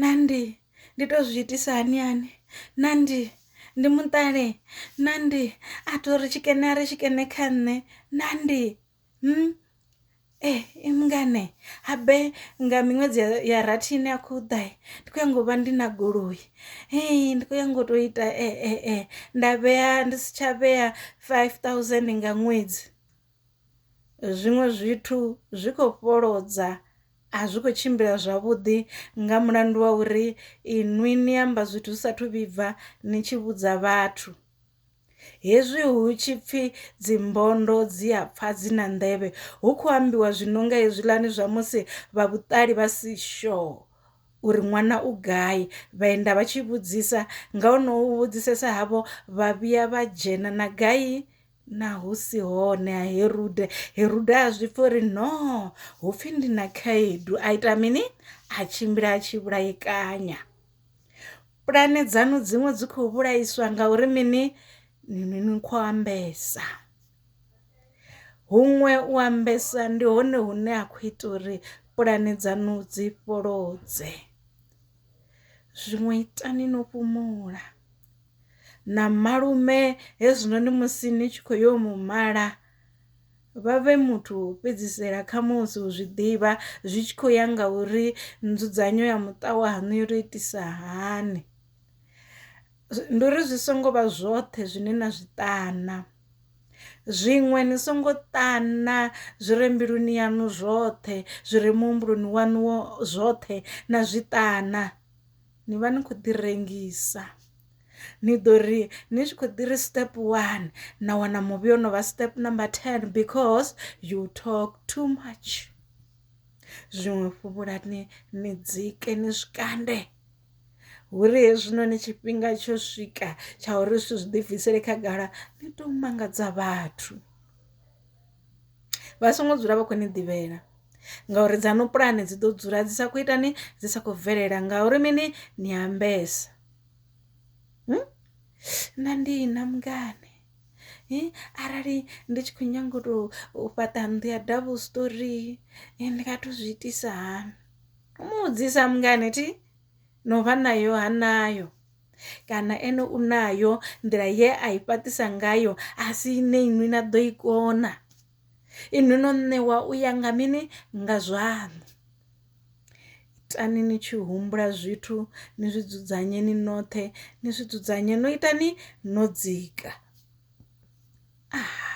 Nandi, ndi to zwi itisa hani hani Nandi, ndi muṱale Nandi, a to ri tshikene a ri tshikene kha nṋe Nandi, hmm ee i mungana habe nga miṅwedzi ya rathi ine ya khou ḓa ndi kho nyaga u vha ndi na goloi hei ndi kho nyaga u to ita nda vhea ndi si tsha vhea five thousand nga ṅwedzi. Zwiṅwe zwithu zwi kho fholodza a zwi kho tshimbila zwavhuḓi nga mulandu wa uri inwi ni amba zwithu zwi sathu vhibva ni tshi vhudza vhathu hezwi hu tshi pfhi dzimbondo dzi a pfha dzi na nḓevhe hu khou ambiwa zwi no nga hezwiḽani zwa musi vha vhuṱali vha si sure uri ṅwana u gai vha enda vha tshi vhudzisa nga ho no vhudzisesa havho vha vhuya vha dzhena na gai. na hu si hone ha herude herude a zwi pfha uri no hu pfhi ndi na khaedu a ita mini a tshimbila a tshi vhulaikanya pulane dzanu dziṅwe dzi khou vhulaiswa ngauri mini ni ni ni khou ambesa huṅwe u ambesa ndi hone hune a khou ita uri pulane dzanu dzi fholodze zwiṅwe itani no fhumula na malume hezwinoni musi ni tshi khou yo mu mala vha vhe muthu wo fhedzisela khamusi u zwi ḓivha zwi tshi khou ya nga uri nzudzanyo ya muṱa waṋu yo tou itisa hani ndi uri zwi songo vha zwoṱhe zwine na zwi ṱana zwiṅwe ni songo ṱana zwi re mbiluni yaṋu zwoṱhe zwi re muhumbuloni waṋu zwoṱhe na zwi ṱana. ni vha ni khou ḓi rengisa ni ḓo ri ni tshi khou ḓi ri step one na wana muvhi o no vha step number ten because you talk too much zwiṅwe fhuvhulani ni dzike ni zwikande huri hezwinoni tshifhinga tsho swika tsha uri zwithu zwi ḓibvisele khagala ni to mangadza vhathu. vha songo dzula vha khou ni ḓivhela ngauri dzaṋu pulane dzi ḓo dzula dzi sa khou itani dzi sa khou bvelela ngauri mini ni ambesa hmm? na ndi na mngane arali ndi tshi khou nyanga u tou fhaṱa nnḓu ya double story ndi nga to zwi itisa hani mu vhudzisa mngane thi no vha nayo ha nayo kana ene u nayo nḓila ye a i fhaṱisa ngayo a si ine inwi na ḓo i kona inwi no ṋewa u ya nga mini nga zwaṋu itani ni tshi humbula zwithu ni zwi dzudzanye ni noṱhe ni zwi dzudzanye no itani no dzika ah.